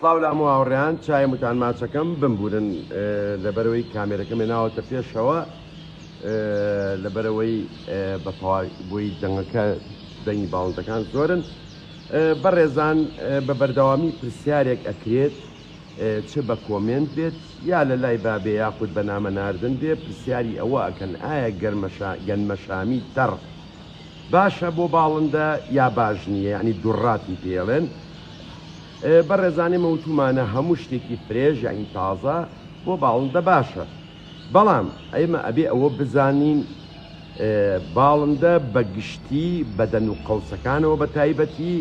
سڵاو لە هەموو هاوڕێیان چای متان ماچەکەم بمبورن لەبەرەوەی کامێرەکەمێ ناوەتە پێشەوە لەبەرەوەی بە بۆی دەنگەکە دەنگی باڵندەکان زۆرن بەڕێزان بە بەردەوامی پرسیارێک ئەکرێت چ بە کۆمێنت بێت یا لە لای بابێ یاخود بە نامە ناردن بێ پرسیاری ئەوە ئەکەن ئایا گەرمەشا گەنمەشامی تەڕ باشە بۆ باڵندە یا باش نیە یعنی دوڕاتی پێڵێن بەڕێزان ئێمە وتومانە هەموو شتێکی فرێژ یعنی تازە بۆ باڵندە باشە بەڵام ئەمە ئەبێ ئەوە بزانین باڵندە بەگشتی بەدەن و قەوسەکانەوە بە تایبەتی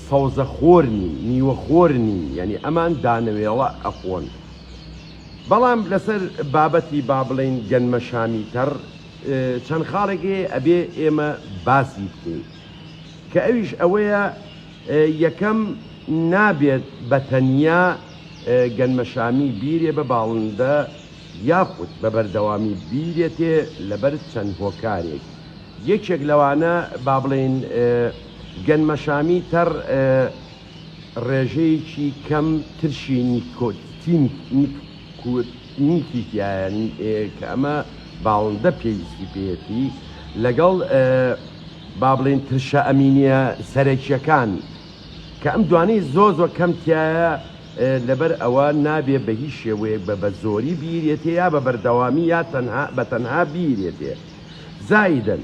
سەوزە خۆر نین نیوە خۆر نین یعنی ئەمان دانەوێڵە ئەخۆن بەڵام لەسەر بابەتی با بڵین گەنمە شامی تەڕ چەند خاڵێک هەیە ئەبێ ئێمە باسی بکەین کە ئەویش ئەوەیە یەکەم نابێت بە تەنیا گەنمەشامی بیرێ بە باڵندە یاخود بە بەردەوامی بیرێتێ لەبەر چەند هۆکارێک یەکێک لەوانە با بڵێین گەنمەشامی تەڕ ڕێژەیەکی کەم ترشی نیکۆتین نیکوت نیکی تیایە کە ئەمە باڵندە پێویستی پێیەتی لەگەڵ با بڵێین ترشە ئەمینیە سەرەکیەکان کە ئەم دوانەی زۆر زۆر کەم تیایە لەبەر ئەوە نابێ بە هیچ شێوەیەک بە بە زۆری بیرێتێ یا بە بەردەوامی یا تەنها بە تەنها بیرێتێ زایدن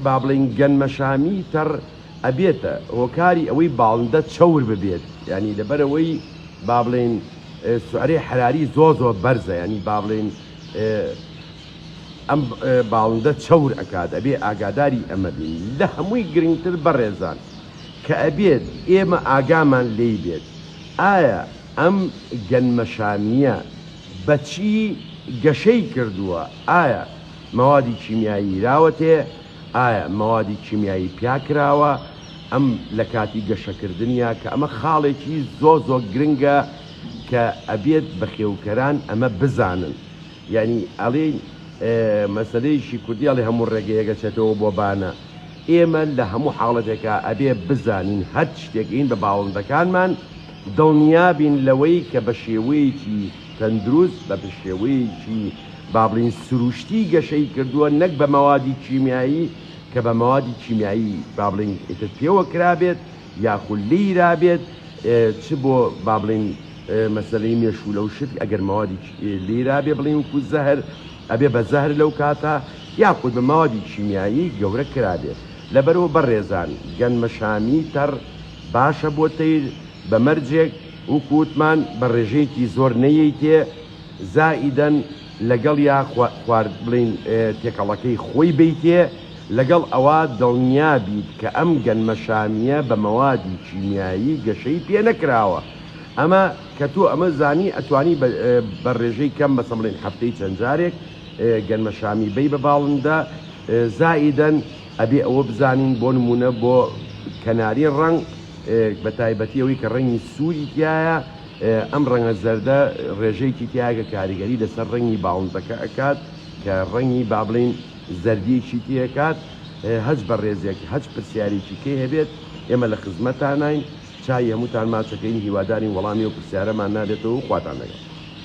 با بڵێین گەنمەشامی تەڕ ئەبێتە هۆکاری ئەوەی باڵندە چەور ببێت یانی لەبەرئەوەی بابڵێین سعرەی حراری زۆر زۆر بەرزە یانی بابڵێین ئەم باڵندە چەور ئەکات ئەبێ ئاگاداری ئەمە بین لە هەمووی گرنگتر بەڕێزان کە ئەبێت ئێمە ئاگامان لی بێت ئایا ئەم گەنمەشامیە بەچی گەشەی کردووە ئایا مەوادی کیمیایی راوەتێ ئایا مەوادی کیمیایی پیا کراوە ئەم لە کاتی گەشەکردنیا کە ئەمە خاڵێکی زۆ زۆ گرنگە کە ئەبێت بەخێوکەران ئەمە بزانن یانی ئەلین مەسەلەیشی کوردی ئەڵێ هەموو ڕێگەیەک ئەچێتەوە بۆ بانە ئێمە لە هەموو حاڵەتێکا ئەبێ بزانین هەرچ شتێک ئین بە باڵندەکانمان دڵنیابین لەوەی کە بە شێوەیەکی تەندروست بە بشێوەیەکی با بڵێین سروشتی گەشەی کردووە نەک بە مەوادی کیمیایی کە بە مەوادی کیمیایی با بڵێین ئیتر پێوە کرابێت یاخود لێی رابێت چ بۆ با بڵێین مەسەلەی مێشوولە و شت ئەگەر مەوادی لێی رابێ بڵێن وکو زەهر ئەبێ بە زەهر لەو کاتە یاخود بە مەوادی کیمیایی گەورە کرابێت لەبەرەوە بەڕێزان گەنمەشامی تەڕ باشە بۆ تەیر بە مەرجێک وەکو وتمان بە ڕێژەیەکی زۆر نەیەیتێ زائیدەن لەگەڵیا خوارد بڵێین تێکەڵەکەی خۆی بەیتێ لەگەڵ ئەوا دڵنیا بیت کە ئەم گەنمە شامیە بە مەوادی کیمیایی گەشەی پێ نەکراوە ئەمە کە تۆ ئەمە زانی ئەتوانی بە ڕێژەی کەم مەسەڵ بڵێین هەفتەی چەند جارێک گەنمە شامی بەی بە باڵندە زائیدەن ئەبێ ئەوە بزانین بۆ نموونە بۆ کەناری ڕەنگ بە تایبەتی ئەوەی کە ڕەنگی سووری تیایە ئەم ڕەنگە زەردە ڕێژەیەکی تیاگە کاریگەری لەسەر ڕەنگی باڵندەکە ئەکات کە ڕەنگی با بڵین زەردیەکی تێکات هەچ بە ڕێزێک هەچ پرسیارێکی کەی هەبێت ئێمە لە خزمەتانین چای هەمووتان ماچەکەین هیوادارین وەڵامی و پرسیارەمان نابێتەوە خواتان لەگەڵ.